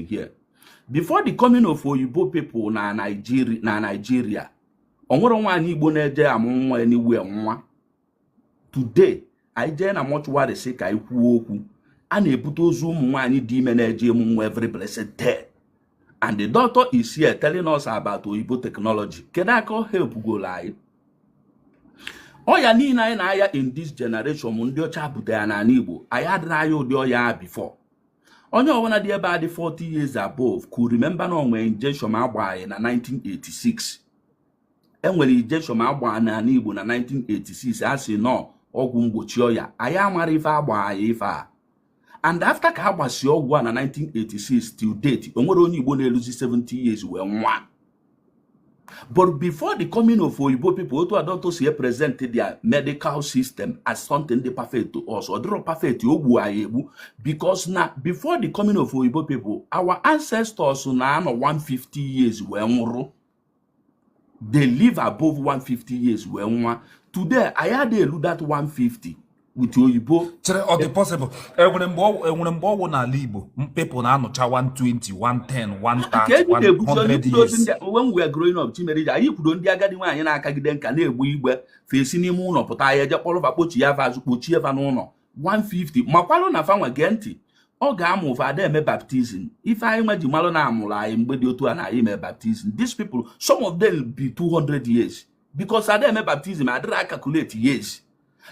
here before the coming of oyibo people na Nigeria o nwerọ nwaanyị igbo na-eje amụ nwa anywhere nwụa today anyị jee na mortuary sị ka anyị kwuo okwu a na-ebute ozu ụmụ nwaanyị dị ime na-eje ịmụ nwa every blessed day and the doctor is here telling us about oyibo technology kedu aka ọ help goro anyị ọya niile anyị na-aya in this generation ndị ọcha bute ya n'ani igbo anyị adịrọ aya ụdị ọya a before onye ọbụla dị ebe a dị 40 years above could remember na o nwe injection a gba anyị na 1986 e nwere injection a gba n'ani Igbo na 1986 a sị na ọ ọgwụ mgbochi ọya anyị amarọ ife a gba anyị ife a and after ka a gbasi ọgwụ a na 1986 till date o nwerọ onye Igbo na-eluzi 70 years wee nwụa but before the coming of oyibo people otu a doctor si present their medical system as something dị perfect to us ọ dịrọ perfect o gbu anyị egbu because na before the coming of oyibo people our ancestors na-anọ 150 years wee nwụrụ they live above 150 years wee nwụa today anyị adị elu that 150 otu oyibo chere ọ dị possible e nwere mgbe ọ- e nwere mgbe ọ wụ n'ala igbo people na-anọcha 120 110 ka eji na-ebuzi onye 130 kwudo ozi 100 ndị a- when we are growing up chimere ji anyị kwudo ndị agadi nwaanyị na-akagide nka na-egbe igbe fa esi n'ime ụnọ pụta e jee kpọrọ fa kpọchiya fa azụ kpọchie fa n'ụnọ 150 makwalụ na fa nwa gee ntị oge a mụụ fa ada eme baptism ife anyị nwa ji malụ na a mụrụ anyị mgbe dị otu a na anyị mee baptism these people some of them be 200 years because ada eme baptism adịrọ acalculate years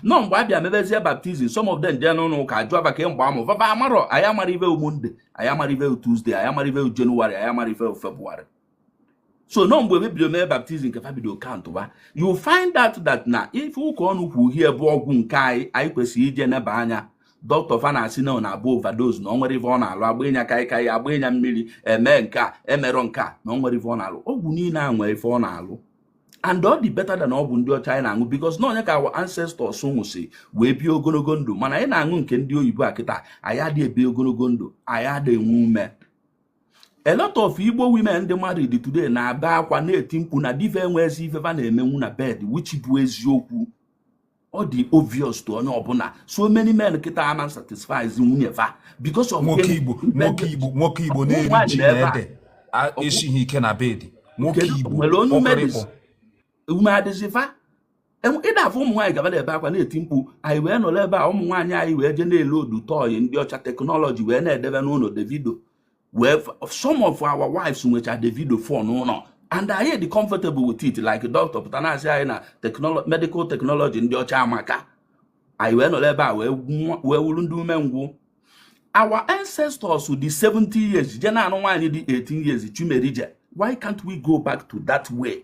na ọ mgbe a bịa mebezie baptism some of them jee n'ụlọ ụka jụọ maka mgbe a mụ va va amarọ anyị amarọ ive Monday anyị amarọ ive Tuesday anyị amarọ ive January anyị amarọ ive February so na ọ mgbe e bido mee baptism ka fa bido countba you find out that na ife Ụkaọnụ kwu here bụ ọgwụ nke anyị anyị kwesịrị ije neba anya dọkịta fa na-asị na ọ na-abụ overdose na o nwerọ ife ọ na-alụ a gbanye kaikai a gbanye mmiri e mee nke a e merọ nke a na o nwerọ ife ọ na-alụ ọgwụ niile a nwere ife ọ na-alụ and ọ dị better than ọgwụ ndị ọcha anyị na-aṅụ because na ọ nya ka our ancestors ṅụsị wee bie ogonogo ndụ mana anyị na-aṅụ nke ndị oyibo a kịta anyị adị ebi ogonogo ndụ anyị adị enwe ume a lot of igbo women ndị married today na-ebe akwa na-eti mkpu na di va enwezi ife va na-emenwu na bed which bụ eziokwu ọ dị obvious to onye ọbụla so many men kịta ama satisfy nwunye fa because of nwoke igbo nwoke igbo nwoke igbo na-eri ji na ede esighị ike na bed nwoke igbo o nwerọ onye ume dịzi ume adịzi fa ị da afụ ụmụ nwaanyị ka va na-ebe akwa na-eti mkpu anyị wee nọrọ ebe a ụmụ nwaanyị anyị wee jee na-ele adult toy ndị ọcha technology wee na-edebe n'ụnọ davido wee some of our wives nwecha Davido phone n'ụlọ and anyị dị comfortable with it like doctor pụta na-asị anyị na medical technology ndị ọcha amaka anyị wee nọrọ ebe a wee wụrụ ndị umengwụ our ancestors dị 70 years je na-anụ nwaanyị dị 18 years Chumerije why can't we go back to that way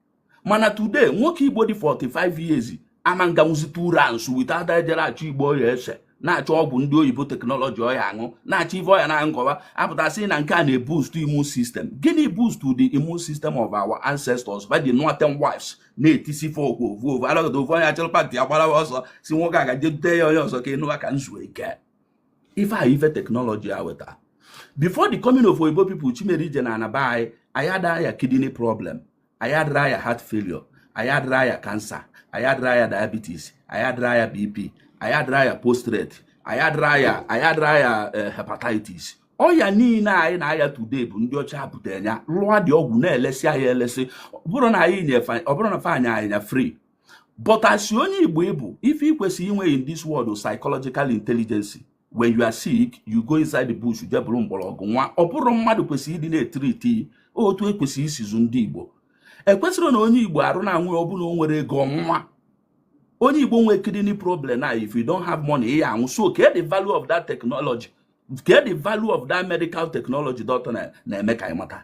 mana today nwoke igbo dị 45 years ama nganwuzi 2 rounds without ejere achọ igbo ọ ya ese na-achọ ọgwụ ndị oyibo teknọlọji ọ ya aṅụ na-achọ ive ọ ya na-aṅụ nkọwa apụta sị na nke a na-eboost immune system gịnị boost the immune system of our ancestors va ji nụọ 10 wives na-etisi fa okwu ovu ovu alakata ovu onye achọrọ pantị agbarawa ọsọ sị nwoke a gaje dute ya onye ọzọ ka ị nụwa ka m zuo ike ife a ife teknọlọji a weta before the coming of oyibo people Chimerije n'ana be anyị anyị adara aya kidney problem anyị adara aya heart failure anyị adara aya cancer anyị adara aya diabetes anyị adara aya bp anyị adara aya postrate anyị adara aya anyị adara aya eh, hepatitis ọya niile anyị na-aya today bụ ndị ọcha butere ya lụọ dị ọgwụ na-elesi anyị elesi ọ bụrọ na fa na-enye anyị ya free but as onye igbo ị bụ ife ị kwesịrị inwe in this world psychological intelligence when you are sick you go inside the bush je buru mgbọrọgwụ ṅụa ọ bụrọ mmadụ kwesịrị ịdị na-etreat otu ekwesịrị isi zụ ndị igbo ekwesịrọ na onye igbo arụ na-anwụ ọ bụ na o nwerọ ego ọ nwụa onye igbo nwee kidney problem na if you don't have money ị ya anwụ so kee the value of that technology kee the value of that medical technology doctor na-eme ka anyị mata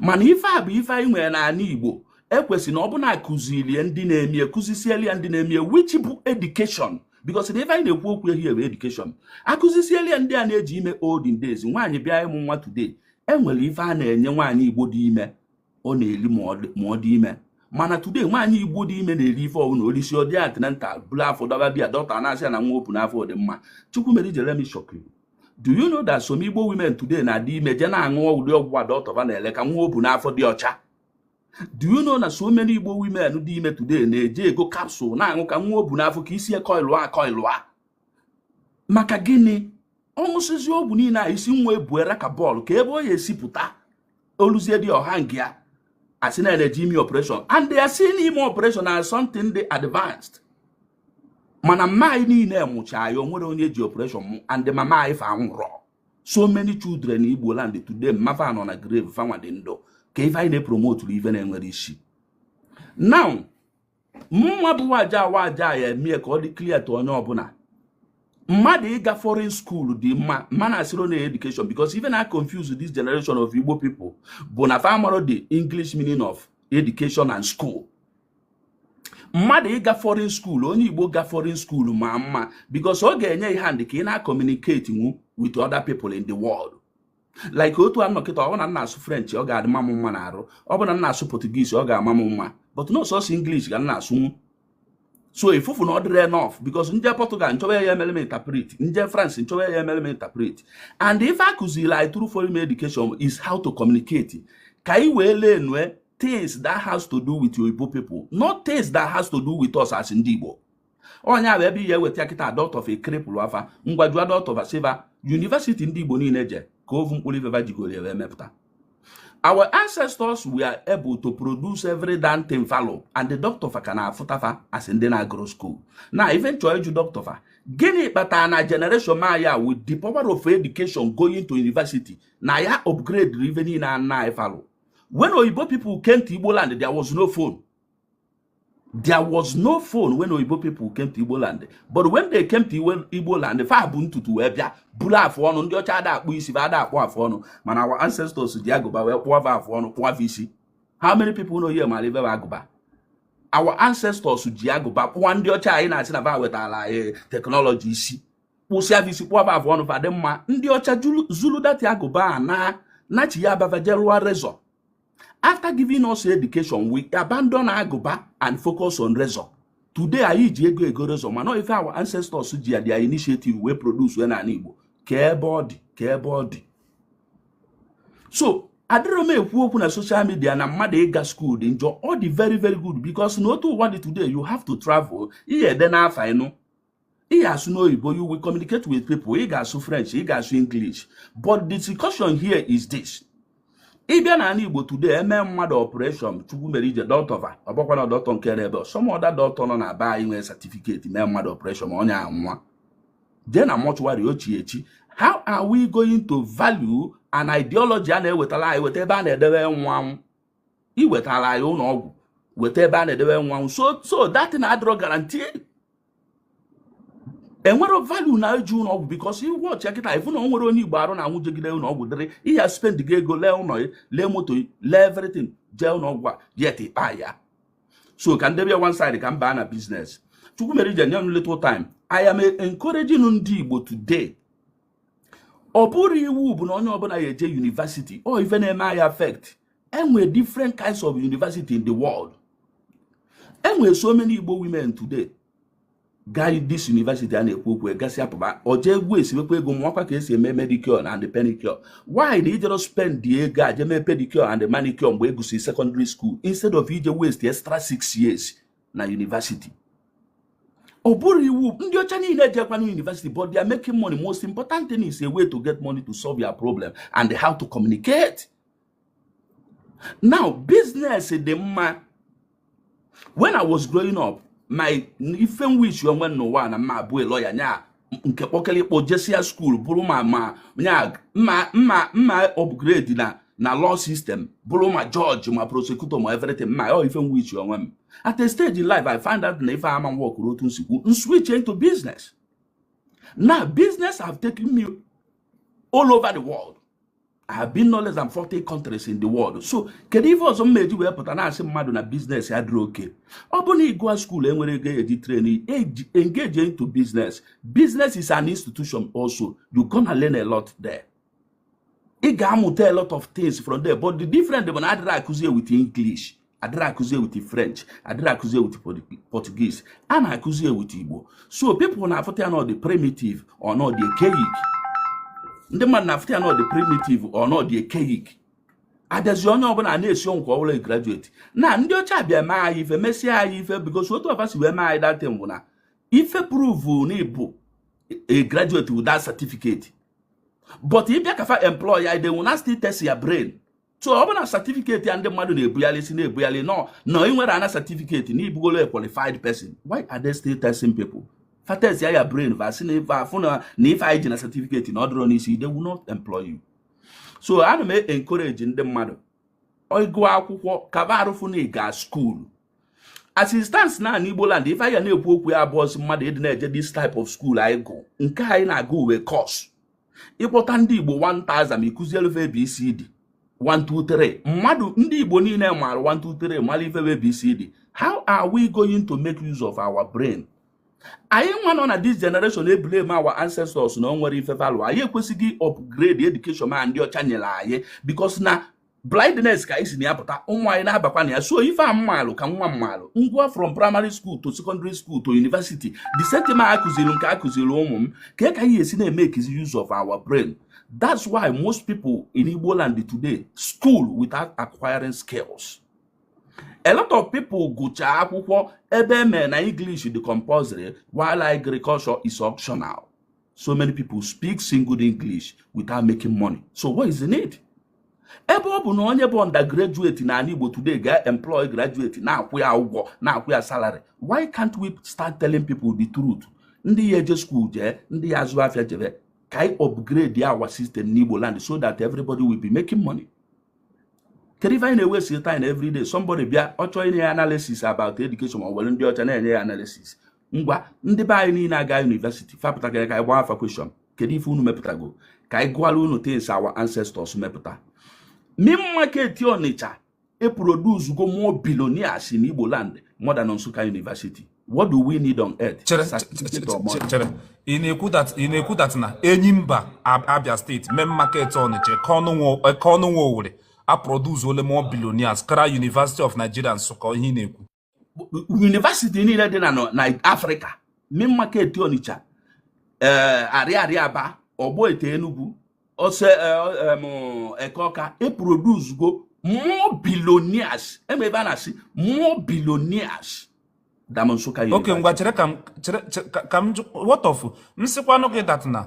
mana ife a bụ ife anyị nwere n'ala Igbo ekwesị na ọ bụ na akụzilie ndị na-emie akụzisieli ya ndị na-emie which bụ edukeshọn bikos na ife anyị na-ekwu okwu here bụ edukeshọn akụzisieli ya ndị a na-eji ime olden days nwaanyị bịa ịmụ nwa today enwere ife a na-enye nwaanyị Igbo dị ime ọ na-eri ma ọ dị ime mana today nwaanyị igbo dị ime na-eri ife ọbụla o lisie ọ dị antenatal buru afọ dọba bịa dọkta na-asị ya na nwa o bu n'afọ dị mma Chukwumerije let me shock you do you know that some Igbo women today na-adị ime je na-aṅụ ụdị ọgwụ a doctor va na-ele ka nwa o bu n'afọ dị ọcha do you know na so many Igbo women dị ime today na-eje ego capsule na-aṅụ ka nwa o bu n'afọ ka isi koilụa koilụa maka gịnị ọ ṅụsịzie ọgwụ niile a isi nwa ebuera ka bọọlụ kee ebe ọ ya esi pụta o luzie dị ọha nke ya asị na eje ime operation and they are seeing ime operation as something dị advanced mana mma anyị niile mụcha anyị o nwerọ onye ji operation mụọ and mama anyị fa anwụrọ so many children in igbo land today mma fa nọ na grave fanwa dị ndụ kee ife anyị na-epromoturu ife na-enwerọ isi now mụnwa bụ waja waja ya emie ka ọ dị clear to onye ọbụla mmadụ ịga foreign school dị mma mana asịrị na education because ive na-aconfuse this generation of Igbo people bụ na fa amarọ the English meaning of education and school mmadụ ịga foreign school onye igbo ga foreign school ma mma because ọ ga-enye ị hand ka ị na-acommunicatenwu with other people in the world like otu a nọ kịta ọ bụ na m na-asụ french ọ ga-adị ma m mma na arụ ọ bụ na m na-asụ portuguese ọ ga-ama m mma but na ọ sọsọ english ka m na-asụnwu so ifufu na ọ dịrọ enough because m je portugal m chọba ya emere m interpret m je france m chọba ya emere m interpret and ife a kụziri anyị through foreign education is how to communicate ka anyị wee learn things that has to do with oyibo people not things that has to do with us as ndị Igbo ọ nya bụ ebe ị ya eweta kịta doctor fa ekrepụrụ afa ngwa jụa doctor fa sị va university ndị igbo niile je ka ovu mkpụrụ ife va jigoro ya emepụta our ancestors were able to produce every damn thing fa lụ and ndị doctor fa ka na-afụta fa as ndị na-agụrọ school na ive m chọọ ịjụ doctor fa gịnị kpatara na generation maya with the power of education going to university na ya upgrade ife niile nna anyị fa lụ when oyibo people came to igbo land there was no phone there was no phone when oyibo people came to igbo land but when they came to igbo land fa bu ntutu wee bịa buru afụ ọnụ ndị ọcha ada akpụ isi ada akpụ afụ ọnụ mana our ancestors ji agụba wee kpụọ va afụ ọnụ kpụọ isi how many people know here mara ife bụ agụba our ancestors ji agụba kpụọ ndị ọcha anyị na-asị na va wetara anyị eh, technology isi kpụsịa va isi kpụọ va afụ ọnụ fa dị mma ndị ọcha zulu that agụba a na nachi ya be va je rụọ razor after giving us education we abandon agụba and focus on razor today anyị ji ego ego razor mana ọ ife our ancestors ji ya their initiative wee produce wee n'ala Igbo kee ebe ọ dị kee ebe ọ dị so adịrọ m ekwu okwu na social media na mmadụ ịga school dị njọ ọ dị very very good because na otu ụwa dị today you have to travel ihe ede n'afa ịnụ ị ga-asụ n'oyibo you will communicate with people ị ga-asụ french ị ga-asụ english but the discussion here is this ị bịa na anị igbo today e mee mmadụ operation chukwumerije doctor va ọ bụkwa na doctor nke ebe some other doctor nọ na be anyị nwere certificate mee mmadụ operation ma onye anwa jee na mortuary ochie echi how are we going to value an ideology a na-ewetara anyị weta ebe a na-edebe nwa anwụ i wetara anyị ụlọ ọgwụ weta ebe a na-edebe nwa so that na adịrọ guarantee enwerọ value na eje ụlọ ọgwụ because ị watch kịta ị fụ na o nwere onye igbo arụ na-anwụ jegide ụlọ ọgwụ dịrị ihe spend gị ego lee ụlọ ya lee moto ya lee everything jee ụlọ ọgwụ a yet ịkpa ya so ka m debe ya one side ka m baa na business chukwumerije nye m little time i am encouraging ndị igbo today ọ bụrọ iwu bụ na onye ọbụla ya eje university ọ ife na-eme anyị affect enwe different kinds of university in the world enwe so many Igbo women today gara this university a na-ekwu okwu gasịa pụba ọ je waste kwa ego mụọkwa ka esi eme medicure and penicure why na i jerọ spend dị ego a jee mee pedicure and manicure mgbe ị gụsịrị secondary school instead of ije waste extra six years na university ọ bụrọ iwu ndị ọcha niile jekwa na university but they are making money most important thing is a way to get money to solve your problem and how to communicate now business dị mma when i was growing up my ife m wish onwe m n'ụwa na m ma-abụ lawyer nya nke kpọkara ịkpọ jesia school bụrụ ma upgrade na na law system bụrụ ma judge ma prosecutor ma everything ma ọ ife m wish onwe m at a stage in life i find out na ife ama m workụrọ otu m si kwu m switch into business na business have taken me all over the world I have been no less than 40 countries in the world so kedu ife ọzọ m ma-eji wee pụta na-asị mmadụ na business adịrọ okay ọ bụrụ na ịgụa school enwerọ ego eji train engage into business business is an institution also you gonna learn a lot there ị ga-amụta a lot of things from there but the different bụ na adịrọ akụzi ya with English adịrọ akụzi ya with french adịrọ akụzi ya with portuguese a na-akụzi ya with igbo so people na-afụta ya na ọ dị primitive or na ọ dị archaic ndị mmadụ na-afụta ya na ọ dị primitive or na ọ dị archaic a bịazi onye ọbụla na-esi ọnwụ ka ọ bụlụ a graduate na ndị ọcha bịa mee anyị ife mesịa anyị ife because otu fa si wee mee anyị that thing bụ na ife prove na ị bụ a graduate with that certificate but ị bịa ka fa employa ị they will now still test your brain so ọ bụ na certificate a ndị mmadụ na-ebugharị si na-ebugharị nọ na ị nwere ana certificate na ị bụgolu a qualified person why are they still testing people fa testịa your brain fa sị na ife afụ na na ife anyị ji na certificate na ọ dịrọ n'isi they will not employ you so ana m encourage ndị mmadụ ịgụ akwụkwọ ka fa rafụ ịga school as it stands now in igbo land ife anyị ga na-ekwu okwu ya abụrọzi mmadụ ịdị na-eje this type of school anyị gụ nke anyị na-agụ because ị kpọta ndị igbo 1000 ị kụzielu fa abcd 123 mmadụ ndị igbo niile maara 123 mara ife abcd how are we going to make use of our brain anyị nwa nọ na this generation eblame our ancestors na o nwerọ ife fa lụ anyị ekwesịghị upgrade education a ndị ọcha nyere anyị because na blindness ka anyị si na ya pụta ụmụ anyị na-abakwa na ya so ife a m malụ ka nwa m malụ ngwa from primary school to secondary school to university the same thing a kụziri m ka a kụziri ụmụ m kee ka anyị ga-esi na-emakezi use of our brain that's why most people in Igbo land today school without acquiring skills a lot of people gụchaa akwụkwọ ebe e mere na English dị compulsory while agriculture is optional so many people speak single English without making money so what is the need ebe ọ bụ na onye bụ undergraduate na ala Igbo today ga-employ graduate na-akwụ ya ụgwọ na-akwụ ya salary why can't we start telling people the truth ndị ya eje school jee ndị ya azụ afịa jebe ka anyị upgrade our system n'Igbo land so that everybody will be making money kedu ife anyị na-ewaste time every day somebody bịa ọ chọọ inye ya analysis about education ma ọ were ndị ọcha na-enye ya analysis ngwa ndị be anyị niile aga university fapụta ka anyị gbaa fa question kedu ife unu mepụtago ka anyị gụọla unu things our ancestors mepụta main market ọnịcha eproducego more billionaires in igbo land more than nsụka university what do we need on earth chere chere ị na-ekwu that na enyimba abia state main market ọnịcha eke ọnụnwa owere a produce ole more billionaires kara university of nigeria nsụka ihe ị na-ekwu university niile dị na africa main market onitsha ee eh, arịarịa aba ogbete enugwu ose eh, eke ọka eproducego more billionaires ebe ebe a na-asị more billionaires than nsụka okay ngwa chere ka m chere ka m what of m sịkwanụ gị that na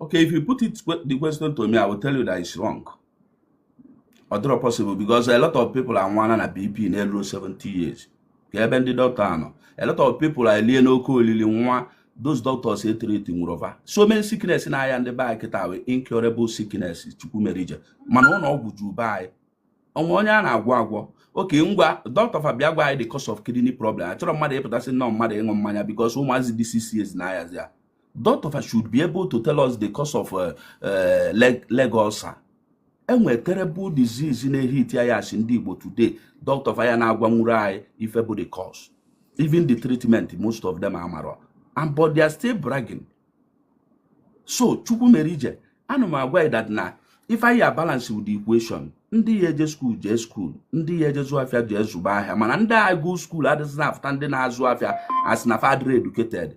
Okay, if you put the question to me, I will tell you that it's wrong. Ọ dịrọ possible because a lot of people anwụọ na BP na-elurọ 70 years. Kee ebe ndị dọkịta a nọ. A lot of people are elie n'oke olili nwa those doctors e treat nwurọ fa. So many sickness na-aya ndị be anyị kịta bụ incurable sickness Chukwumerije. Mana ụlọ ọgwụ ju be anyị. O nwe onye a na-agwọ agwọ. Okay ngwa dọkịta fa bịa gwa anyị the cause of kidney problem. Achọrọ m mmadụ ịpụta sị na ọ mmadụ ịṅụ mmanya because ụmụazị dị 6 years na-ayazi ya. Doctor should be able to tell us the cause of uh, uh, leg, leg ulcer. e nwere terrible disease na-ehit anyị as ndị Igbo today doctor fa ya na-agwanwurọ anyị ife bụ the cause even the treatment most of them amarọ but they are still bragging so Chukwumerije ana m agwa that na ife anyị balance with the equation ndị ya eje school jee school ndị ya eje zụọ afịa jee zụba ahịa mana ndị agụ school adịghị na-afụta ndị na-azụ afịa asị na fa adịrọ educated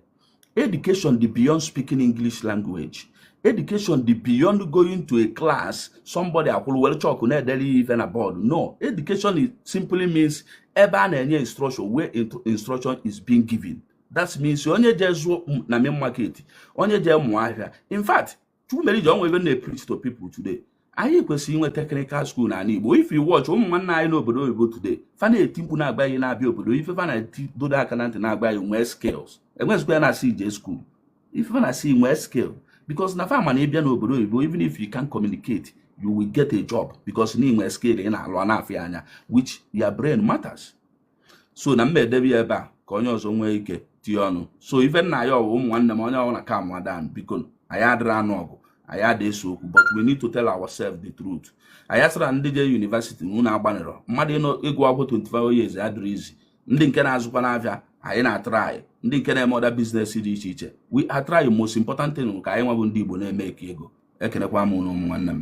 Education dị beyond speaking English language. Education dị beyond going to a class somebody akwụrụ were chalk na-edere ife na board. No, education simply means ebe a na-enye instruction where instruction is being given. That means onye jee zụọ na main market, onye jee mụọ ahịa. In fact, chukwumerije o nwe ife m na-preach to people today anyị kwesịrị inwe technical school n'ala igbo if you watch ụmụ nwanne anyị n'obodo oyibo today fa na-eti mkpu na-agwa anyị na-abịa obodo ife fa na-eti dọdo aka na ntị na-agwa anyị nwee skills enwezikwa ya na-asị ị jee school ife fa na-asị nwee skill because na fa ma na ị bịa n'obodo oyibo even if you can't communicate you will get a job because na i nwe skill ị na-alụ a na-afụ ya anya which your brain matters so na m ma-edebe ya ebe a ka onye ọzọ nwee ike tie ọnụ so ife m na-ayọ wụ ụmụ nwanne m onye ọwụna calmụa down biko anyị adịrị anụ ọgụ anyị ada ese okwu but we need to tell ourselves the truth anyị asịra ndị je university na unu agbanịrọ mmadụ ịgụ akwụkwọ 25 years adịrị easy ndị nke na-azụkwa n'afịa anyị na-atry ndị nke na-eme other business dị iche iche we are trying most important thing ka anyịnwa bụ ndị Igbo na-emake ego ekenekwa m unu ụmụ nwanne m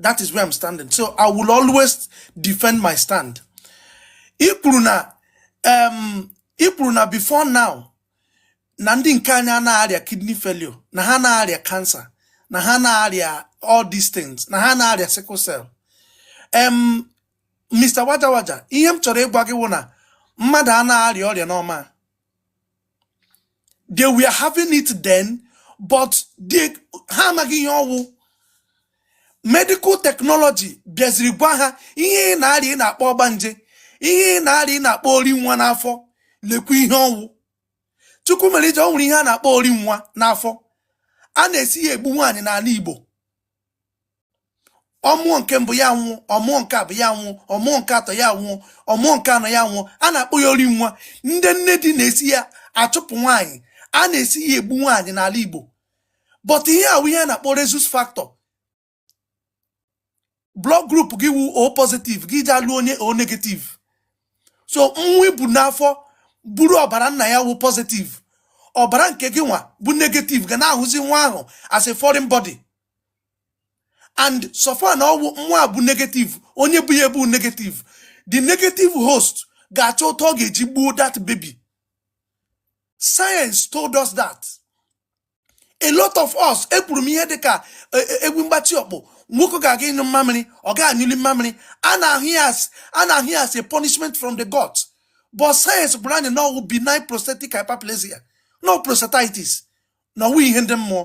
that is where I'm standing so I will always defend my stand ị kwuru na um, ị kwuru na before now na ndị nke anyị anaha arịa kidney failure na ha na-arịa cancer na ha na-arịa all these things na ha na-arịa sickle cell um, Mr. Waja Waja ihe m chọrọ ịgwa gị wụ na mmadụ a na-arịa ọrịa normal they were having it then but they ha amaghị ihe ọ wụ medical technology bịaziri gwa ha ihe ị na-arịa ị na-akpọ ọgbanje ihe ị na-arịa ị na-akpọ ori nwa n'afọ lekwa ihe ọ wụ Chukwumerije ọ nwere ihe a na-akpọ ori nwa n'afọ a na-esi ya egbu nwaanyị n'ala igbo ọ mụọ nke mbụ ya anwụọ ọ mụọ nke abụọ ya anwụọ ọ mụọ nke atọ ya anwụọ ọ mụọ nke anọ ya anwụọ a na-akpọ ya ori nwa ndị nne di na-esi ya achụpụ nwaanyị a na-esi ya egbu nwaanyị n'ala Igbo but ihe ahụ wụ ihe a na-akpọ rhesus factor blood group gị wụ O positive gị eje alụ onye O negative so nwa i bu n'afọ buru ọbara nna ya wụ positive ọbara nke gịnwa bụ negative ga na-ahụzi nwa ahụ as a foreign body and so far na ọ wụ nwa bụ negative onye bu ya bụ negative the negative host ga-achọ otu ọ ga-eji gbuo that baby science told us that a lot of us ekwuru m ihe dịka e, e, egwu mgbatị ọkpụ nwoke ga-aga ịnyụ mmamịrị ọ ga anyụli mmamịrị a na-ahụ ya as a punishment from the gods but science gwara anyị na ọ wụ benign prostatic hyperplasia na ọ wụ prostatitis na ọ wụghị ihe ndị mmụọ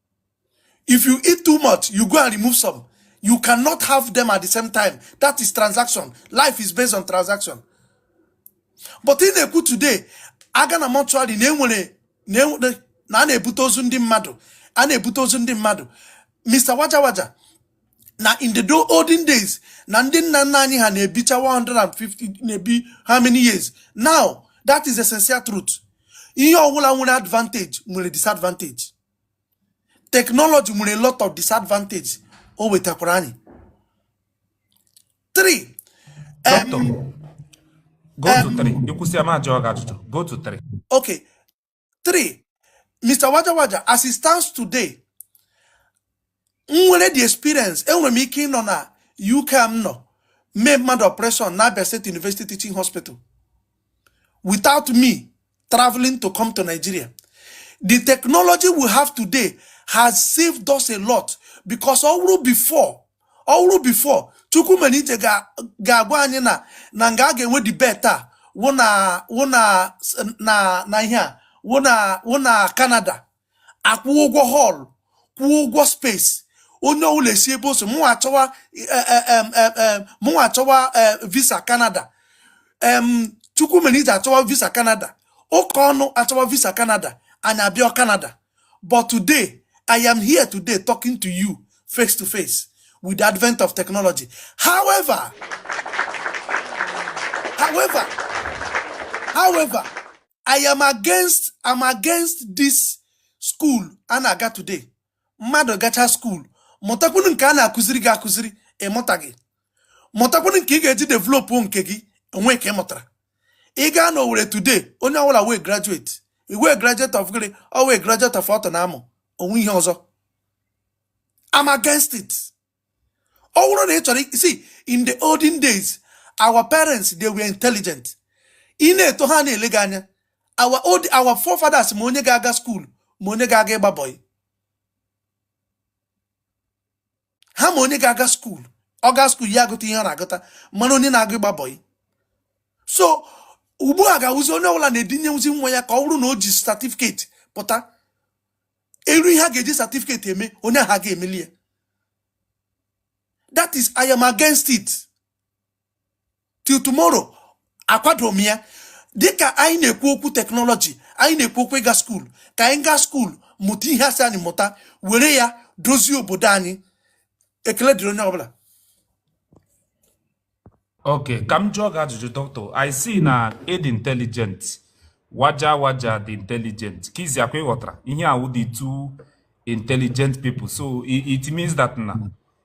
If you eat too much, you go and remove some. You cannot have them at the same time. That is transaction. Life is based on transaction. But ị na-ekwu today, a gaa na mortuary na a na-ebute ozu ndị mmadụ a na-ebute ozu ndị mmadụ Mr. Waja Waja na in the olden days na ndị nna nna anyị ha na-ebicha 150 na-ebi how many years now that is essential truth ihe ọbụla nwere advantage nwere disadvantage technology nwere a lot of disadvantage o wetakwara anyị three Doctor, em, go to three. I kwusịa m ajụọ gị ajụjụ. Go to three. okay three mr waja waja as it stands today m nwere the experience enwere m ike ịnọ na UK m nọ mee mmadụ operation na Abia State University Teaching Hospital without me traveling to come to Nigeria the technology we have today has saved us a lot because ọ wụrụ before ọ wụrụ before Chukwumerije ga-agwa anyị na na nga a ga-enwe debate a wụ na wụ na na na ihe a wụ na wụ na Canada akwụọ ụgwọ hall kwụọ ụgwọ space onye ọbụla esi ebe o so mụnwa achọwa e, e, e, mụnwa achọwa visa Canada Chukwumerije achọwa visa Canada Ụkaọnụ achọwa visa Canada anyị abịa Canada but today i am here today talking to you face to face with the advent of technology however i am against am against this school a na-aga today mmadụ gacha school mụtakwunu nke a na-akụziri gị akụziri ị mụtaghị mụtakwunu nke ị ga-eji develop nke gị o nwe nke ị mụtara ị gaa na Owerri today onye ọwụla wụ a graduate ị wụ a graduate of gịnị ọ wụ a graduate of ọtụ na amụ o nwe ihe ọzọ I'm against it ọ wụrụ na ị chọrọ ịsị in the olden days our parents they were intelligent ị na-eto ha na-ele gị anya our old our forefathers ma onye ga-aga skuul ma onye ga-aga ịgba bọyị ha ma onye ga-aga skuul ọ gaa skuul ya agụta ihe ọ na-agụta mana onye na-aga ịgba bọyị so ugbu a ga-awụzi onye ọwụla na-edinye wụzi nwa ya ka ọ wụrụ na o ji certificate pụta e lee ihe a ga-eji certificate eme onye ahụ aga emeli ya that is i am against it till tomorrow akwado m ya dịka anyị na-ekwu okwu teknọlọji anyị na-ekwu okwu ịga skuul ka anyị gaa skuul mụta ihe a sị anyị mụta were ya dozie obodo anyị ekele dịrị onye ọbụla Okay, ka m jụọ gị ajụjụ doctor. I see na ị dị intelligent. Waja waja dị intelligent. Kizi akwa ị ghọtara ihe a wụ the two intelligent people. So it, it means that na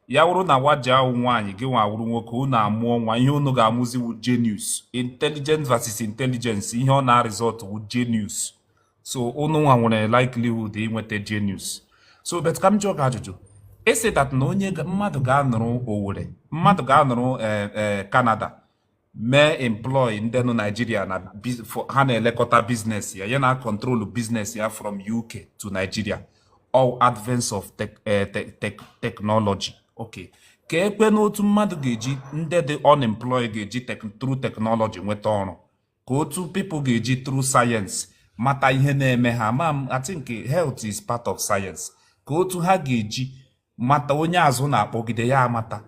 ya wụrụ na waja awụ nwaanyị gịnwa awụrụ nwoke unu amụọ nwa ihe unu ga-amụzi wụ genius. Intelligent versus intelligence ihe ọ na-result wụ genius. so unu nwa nwere likelihood inweta genius so but ka m jụọ gị ajụjụ ị sị that na onye ga- mmadụ ga-anọrọ Owerri mmadụ ga-anọrọ eh, eh, Canada mee employ ndị nọ Nigeria na biz- for- ha na-elekọta business ya ya na-control business ya from UK to Nigeria all advance of tech, eh, te- tech, technology okay kee kwanụ otu mmadụ ga-eji ndị dị unemployed ga-eji tek- through technology nweta ọrụ ka otu people ga-eji through science mata ihe na-eme ha ma m I think health is part of science ka otu ha ga-eji mata onye azụ na-akpọgide ya amata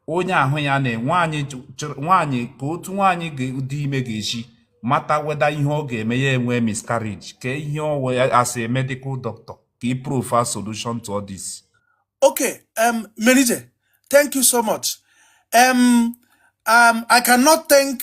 onye ahụ ya na nwaanyị ka otu nwaanyị dị ime ga-eji mata whether ihe ọ ga-eme ya enwe miscarriage ka ihe ọ wụ ya as a medical doctor ka ị provide solution to all this. Okay, um, Melite, thank you so much. Um, um, I cannot thank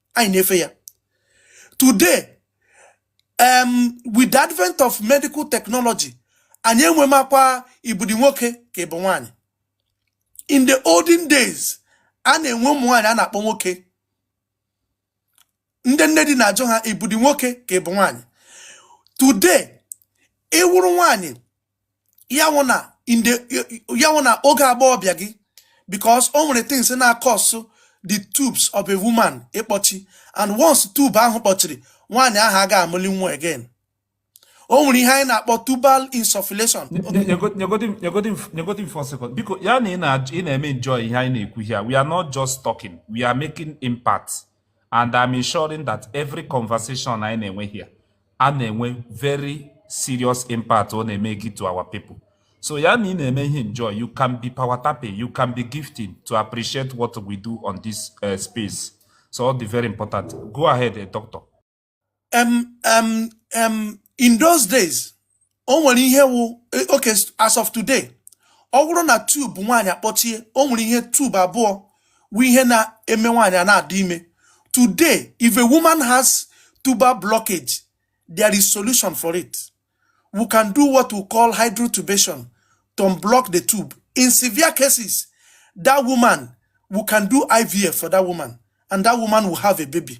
anyị na-efe ya today um, with the advent of medical technology anyị enwemakwa i budi nwoke ka i bu nwaanyị in the olden days a na-enwe ụmụ nwaanyị a na-akpọ nwoke ndị nne di na-ajụ ha i budi nwoke ka i bu nwaanyị today ị wụrụ nwaanyị ya wụ na in the ya wụ na oge agbọghọbịa gị because o nwere things na-acause the tubes of a woman ịkpọchi and once tube ahụ kpọchiri nwaanyị ahụ aga amụli nwa again o nwere ihe anyị na-akpọ tubal insufflation nyegodi m for second biko ya na ị na-eme enjoy ihe anyị na-ekwu here we are not just talking we are making impact and I'm ensuring that every conversation anyị na-enwe here a na-enwe very serious impact ọ na-emake to our people so ya na ị na-eme ihe enjoy you can be power tapping you can be gifting to appreciate what we do on this uh, space so ọ dị very important go ahead eh, doctor um, um, um, in those days o nwere ihe wụ eh, okay as of today ọ bụrụ na tube nwaanyị akpọchie o nwere ihe tube abụọ wụ ihe na-eme nwaanyị a na-adị ime today if a woman has tubal blockage there is solution for it we can do what we call hydrotubation to unblock the tube in severe cases that woman we can do ivf for that woman and that woman will have a baby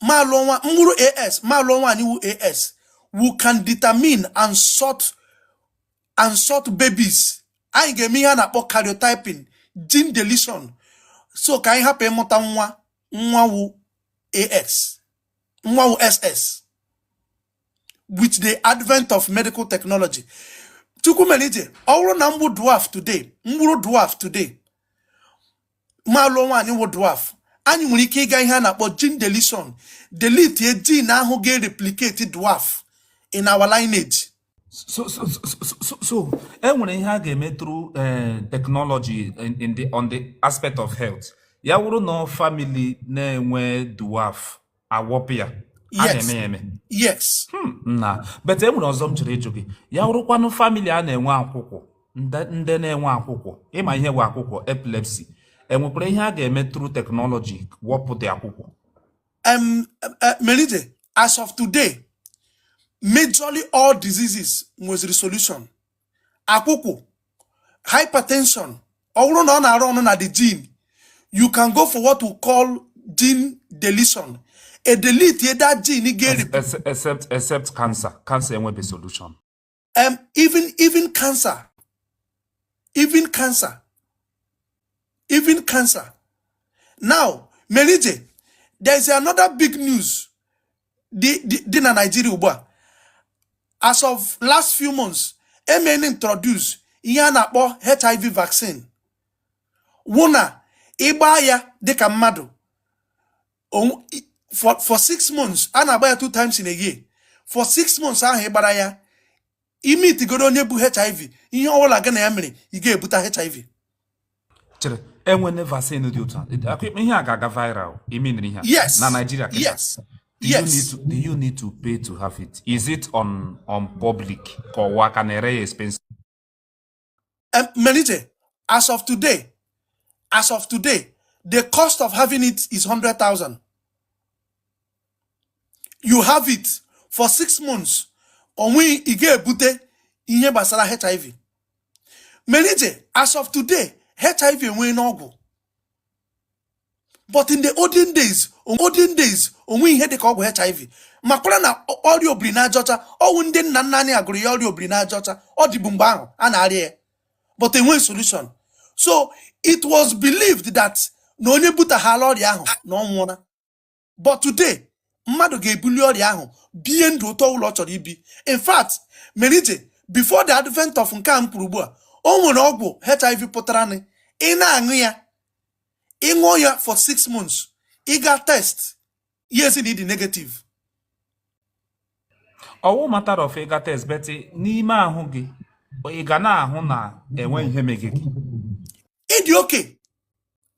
ma lụọ nwa m wụrụ AS ma lụọ nwaanyị wụ AS we can determine and sort and sort babies anyị ga-eme ihe a na-akpọ karyotyping gene deletion so ka anyị hapụ ịmụta nwa nwa wụ AS nwa wụ SS with the advent of medical technology chukwu mere ije ọ bụrụ na m wụ dwarf today m wụrụ dwarf today ma lụọ nwaanyị wụ dwarf anyị nwere ike ịga ihe a na-akpọ gene deletion delete a gene ahụ ga-ereplicate dwarf in our lineage so so so so e nwere ihe a ga-eme through eh, technology in the on the aspect of health ya wụrụ na ọ family na-enwe dwarf agwọpụ ya a na-eme ya eme yes hmm, na but enwere ọzọ m chọrọ ịjụ gị ya wụrụkwanụ family a na-enwe akwụkwụ ndị na-enwe akwụkwụ ị ma ihe bụ akwụkwụ epilepsy enwekwara ihe a ga-eme through technology gwọpụ ụdị akwụkwụ e, Merije as of today majorly all diseases nweziri solution akwụkwụ hypertension ọ wụrụ na ọ na-arun na the gene you can go for what we call gene deletion e delete that gene geri except except cancer cancer enwebe solution um, even even cancer even cancer even cancer now Merije there is another big news dị na Naịjirịa ugbu a as of last few months emene introduce ihe a na-akpọ HIV vaccine wụ na ị gbaa ya dịka mmadụ for six months a na-agba ya two times in a year for six months ahụ ị gbara ya i metụgodu onye bu hiv ihe ọbụla gị na ya mere ị ga-ebute hiv chere enwene vaccine dị otu a ihe a ga-aga viral imenere ihe yes na Nigeria yes Do yes. you need to do you need to pay to have it? Is it on on public? Ka ọ wụ a ka na-ere ya expensive? um, Merije, as of today, as of today, the cost of having it is 100,000. You have it for six months. Onwe ị ga-ebute ihe gbasara HIV. Merije, as of today, HIV enwene ọgwụ. but in the olden days olden days onweghị ihe dịka ọgwụ hiv makwara na ọrịa obiri n'aja ọcha ọ wụ ndị nna nna anyị ha gụrụ ya ọrịa obiri n'aja ọcha ọ dịbu mgbe ahụ a na-arịa ya but enweghị solution so it was believed that na onye butaghala ọrịa ahụ na ọ nwụọla but today mmadụ ga-ebuli ọrịa ahụ bie ndụ otu ọwụla ọ chọrọ ibi in fact Merije before the advent of nke a m kwuru ugbu a o nwere ọgwụ hiv pụtara nị ị na-aṅụ ya ị ṅụọ ya for six months ị gaa test ya asị na ị dị negative ọ wụ matter of ịga test but n'ime ahụ gị ị ga na-ahụ na enwe ihe mege gị ị dị okay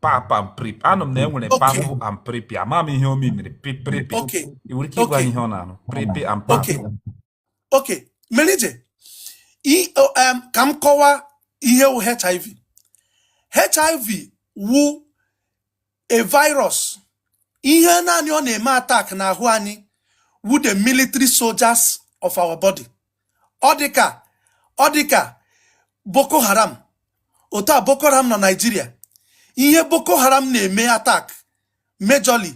PEP and PrEP anụ m na enwere Okay. PEP and PrEP ama m ihe ọ meaniri PrEP Okay. ị nwere ike ịgwa Okay. ihe ọ na-arụ PrEP and PEP Okay. Okay. Merije, i- o, em, ka m kọwa ihe wụ HIV. HIV wụ a virus ihe naanị ọ na-eme attack n'ahụ anyị wu the military soldiers of our body ọ dịka ọ dịka boko haram otu a boko haram na nigeria ihe boko haram na-eme attack majorly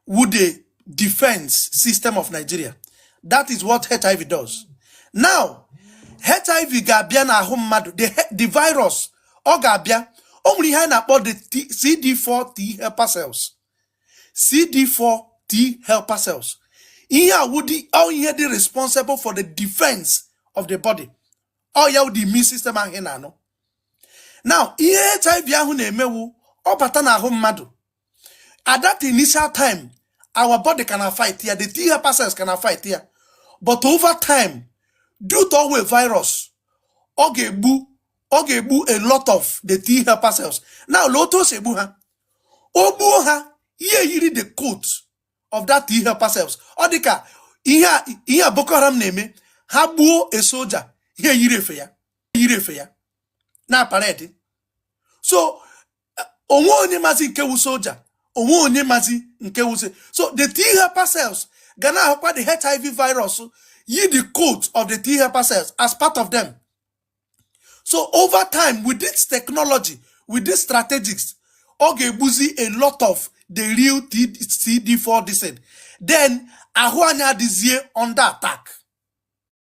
wu the defense system of nigeria that is what hiv does now hiv ga-abịa n'ahụ mmadụ the virus ọ ga-abịa o nwere ihe anyị na-akpọ the CD4 T helper cells CD4 T helper cells ihe a wụ ihe dị responsible for the defense of the body ọ ya wụ the immune system ahụ ị na-anụ now ihe HIV ahụ na-eme wụ ọ bata n'ahụ mmadụ at that initial time our body can fight ya the t helper cells can fight ya but over time due to ọ wụ virus ọ ga-egbu a lot of the t helper cells now lee otu o si egbu ha o gbuo ha ihe yiri the coat of that t helper cells ọ dị ka ihe a Boko Haram na-eme ha gbuo a soldier ihe yiri efe ya na parade so o nweghị onye mazi nke wu soja o nweghị onye mazi nke wuzi so the t helper cells ga na-ahụkwa the hiv virus yi the coat of the t helper cells as part of them so over time with this technology with this strategies ọ ga-egbuzi a lot of the real cd4 this thing then ahụ anyị adịzie under attack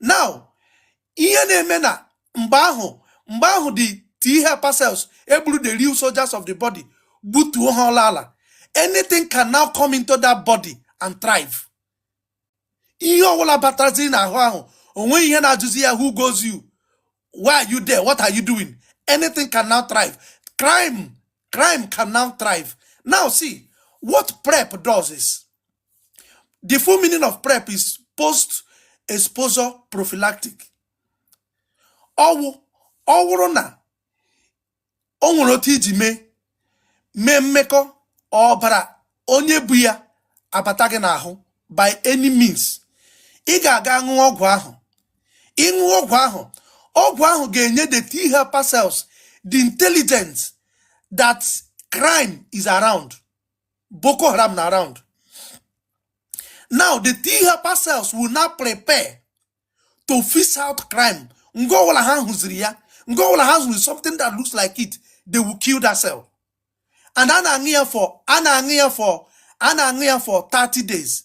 now ihe na-eme na mgbe ahụ mgbe ahụ the t helper cells e gburu the real soldiers of the body gbutuo ha ọla ala anything can now come into that body and thrive ihe ọwụla bataziri n'ahụ ahụ o nweghị ihe na-ajụzi ya who goes you why are you there what are you doing anything can now thrive crime crime can now thrive now see what prep does is the full meaning of prep is post exposure prophylactic ọ wụ ọ wụrụ na o nwere otu i ji mee mee mmekọ ọbara onye bu ya abata gị n'ahụ by any means ị ga-aga ṅụọ ọgwụ ahụ ị ṅụọ ọgwụ ahụ ọgwụ ahụ ga-enye the T helper cells the intelligence that crime is around Boko Haram nọ around. Now the T helper cells will now prepare to fish out crime. Nga ọwụla ha hụziri ya. Nga ọwụla ha hụziri something that looks like it. They will kill that cell. And a na-aṅụ ya for a na-aṅụ ya for a na-aṅụ ya for 30 days.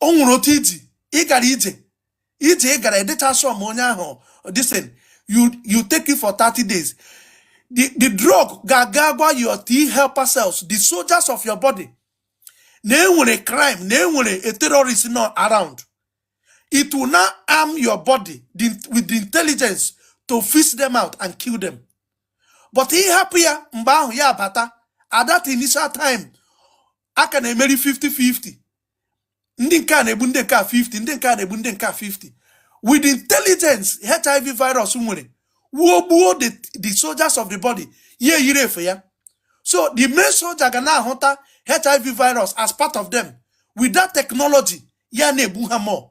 o nwere otu iji ị gara ije ije ị gara adịcha sọm onye ahụ disin you you take it for 30 days the the drug ga-aga gwa your T helper cells the soldiers of your body na enwere crime na enwere a terrorist nọ around it will now arm your body the, with the intelligence to fish them out and kill them but ị hapụ ya mgbe ahụ ya bata at that initial time a ka na-emeri 50-50 ndị nke a na-egbu ndị nke a 50 ndị nke a na-egbu ndị nke a 50 with intelligence hiv virus nwere wuo gbuo the soldiers of the body ya eyiri efe ya so the main soldier ga na-ahụta hiv virus as part of them with that technology ya na-egbu ha more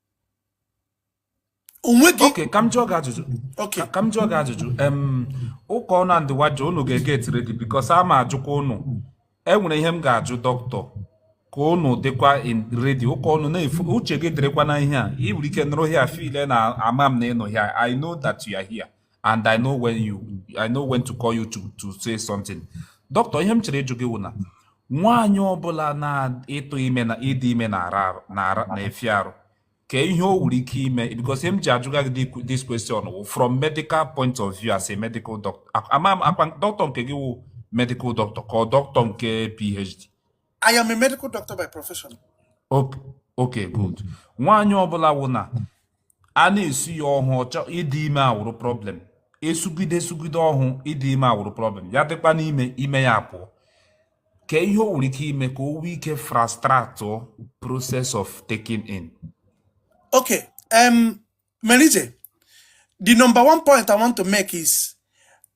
o nweghị okay ka m jụọ gị ajụjụ okay ka m jụọ gị ajụjụ em ụka ọnụ and wajo unu get ready because a ma ajụkwa unu e nwere ihe m ga-ajụ doctor ka unu dịkwa in ready ụka ọnụ na-efu uche gị dịrịkwa na ihe a ị nwere ike nọrọ here feel na ama m na ị nọ here i know that you are here and I know when you I know when to call you to to say something doctor ihe m chere ịjụ gị wụ na nwaanyị ọbụla na ịtụ ime na ịdị ime na-efi arụ kee ihe o nwere ike ime because ihe m ji ajụga gị this question wụ from medical point of view as a medical doctor ama m akwa doctor nke gị wụ medical doctor ka ọ doctor nke PhD I am a medical doctor by profession. Okay, good. Nwaanyị ọbụla wụ na a na-esu ya ọhụ ọ chọọ ịdị ime awụrụ problem esugide esugide ọhụ ịdị ime awụrụ problem ya dịkwa n'ime ime ya apụọ kee ihe o nwere ike ime ka o nwee ike fast-track the process of taking in okay um Menije, the number one point I want to make is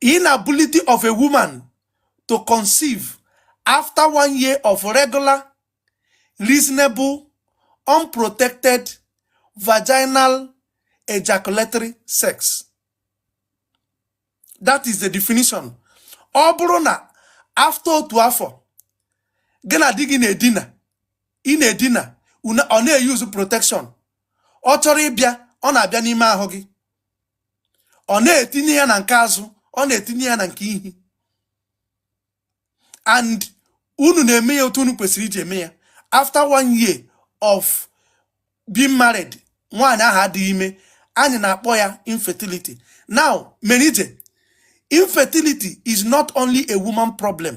inability of a woman to conceive after one year of regular reasonable unprotected vaginal ejaculatory sex that is the definition ọ bụrụ na after otu afọ gị na di gị na-edina ị na-edina ọ na-euse protection ọ chọrọ ịbịa ọ na-abịa n'ime ahụ gị ọ na-etinye ya na nke azụ ọ na-etinye ya na nke ihi and unu na-eme ya otu unu kwesịrị iji eme ya after one year of being married nwaanyị ahụ adịghị ime anyị na-akpọ ya infertility now menije infertility is not only a woman problem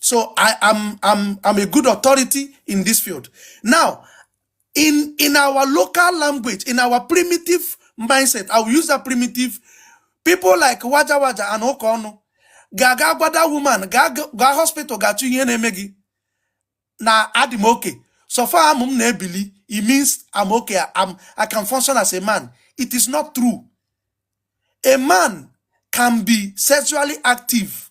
So I am I'm, I'm a good authority in this field. Now, in in our local language, in our primitive mindset, I will use that primitive. People like Waja Waja and Okono, gaga gwada woman, gaga hospital, gachu ihe na-eme gị na adị m oke. So far amụ m na-ebili, it means I'm okay, I'm, I can function as a man. It is not true. A man can be sexually active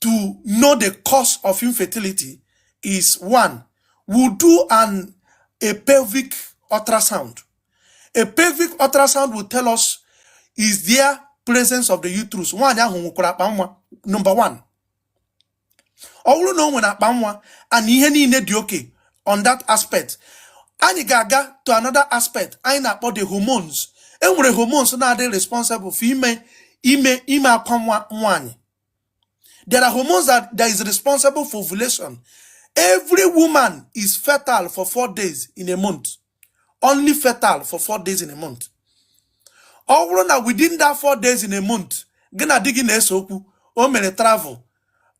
to know the cause of infertility is one, we do an a pelvic ultrasound. A pelvic ultrasound will tell us is there presence of the uterus. Nwaanyị ahụ nwekwara akpa nwa number one. Ọ wụrụ na o nwere akpa nwa and ihe niile dị okay on that aspect. Anyị ga-aga to another aspect anyị na-akpọ the hormones. E nwere hormones na-adị responsible for ime ime ime akwa nwa nwaanyị There are hormones that, that is responsible for ovulation. Every woman is fertile for four days in a month. Only fertile for four days in a month. Ọ wụrụ na within that four days in a month, gị na di gị na-ese okwu, o mere travel,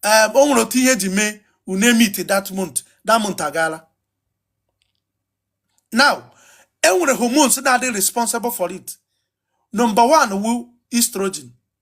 um, o nwere otu ihe ji mee unu emeet that month, that month agaala. Now, e nwere hormones na-adị responsible for it. Number one wụ estrogen.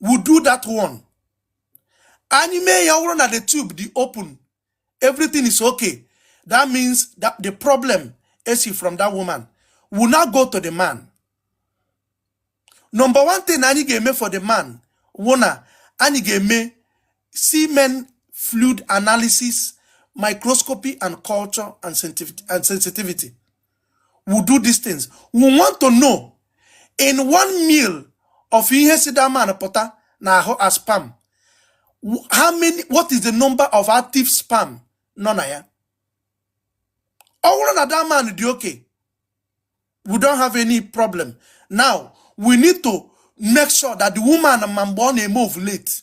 we do that one anyị mee ya ọ na the tube dị open everything is okay that means that the problem esi from that woman we'll now go to the man number one thing anyị ga-eme for the man wụ na anyị ga-eme semen fluid analysis microscopy and culture and sensitivity we do these things we want to know in one mil of ihe si that man pụta n'ahụ as sperm how many what is the number of active sperm nọ na ya ọ wụrụ na that man dị okay we don't have any problem now we need to make sure that the woman ma mgbe ọ na-eme ovulate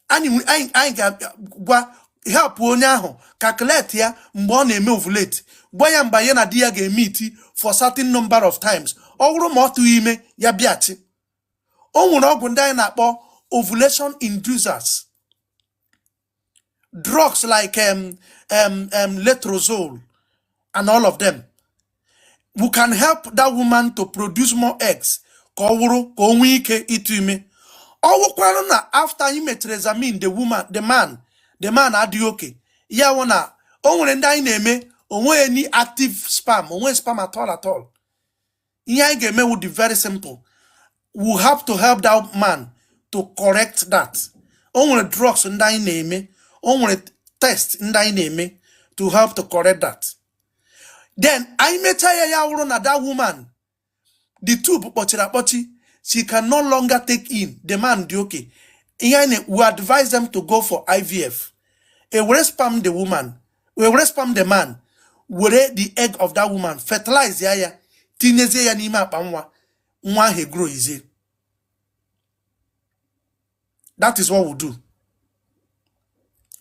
anyị nwe- anyị anyị ga-gwa help onye ahụ calculate ya mgbe ọ na-eme ovulate gwa ya mgbe ya na di ya ga-emeet for certain number of times ọ wụrụ ma ọ tụghị ime ya bịachi o nwere ọgwụ ndị anyị na-akpọ ovulation inducers drugs like um, um, um, letrozole and all of them we can help that woman to produce more eggs ka ọ wụrụ ka o nwee ike ịtụ ime ọ wụkwanụ na after anyị mechara examine the woman the man the man adịghị okay ya wụ na o nwere ndị anyị na-eme o nweghị any active sperm o nweghị sperm at all at all ihe anyị ga-eme would be very simple we have to help that man to correct that o nwere drugs ndị anyị na-eme o nwere test ndị anyị na-eme to help to correct that then anyị mechaa ya ya wụrụ na that woman the tube kpọchiri akpọchi she can no longer take in the man dị okay ihe anyị we advise them to go for ivf e were sperm the woman e were sperm the man were the egg of that woman fertilize ya ya tinyezie ya n'ime akpa nwa nwa ahụ egrow easy that is what we do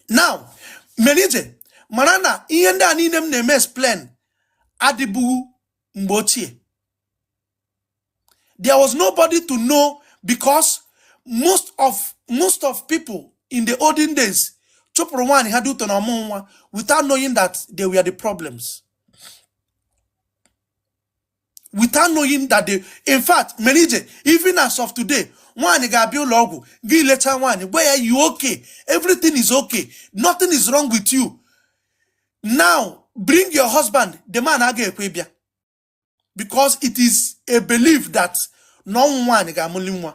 now mere ije mara na ihe ndị a niile m na-eme explain adịbụghị mgbe ochie there was nobody to know because most of most of people in the olden days chụpụrụ nwaanyị ha due to na ọ mụghị nwa without knowing that they were the problems without knowing that they in fact mere ije even as of today nwaanyị ga-abịa ụlọ ọgwụ gị lecha nwaanyị gwa ya you okay everything is okay nothing is wrong with you now bring your husband the man aga ekwe ịbịa because it is a belief that na ọ wụ nwaanyị ga-amụli nwa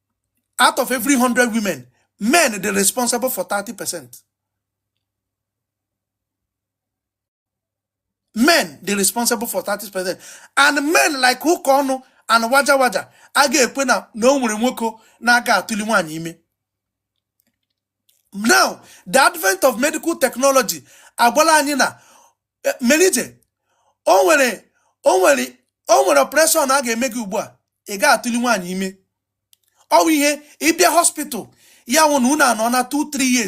out of every 100 women men dị responsible for 30 percent men dị responsible for 30 percent and men like ụkaọnụ and waja waja aga ekwe na na o nwere nwoke na-aga atụli nwaanyị ime now the advent of medical technology agwala anyị na e, mere ije o nwere o nwere o nwere operation a ga-eme gị ugbu a ị ga-atụli nwaanyị ime ọ wụ ihe ị bịa hospital ya wụ na unu anọọna 2 3 years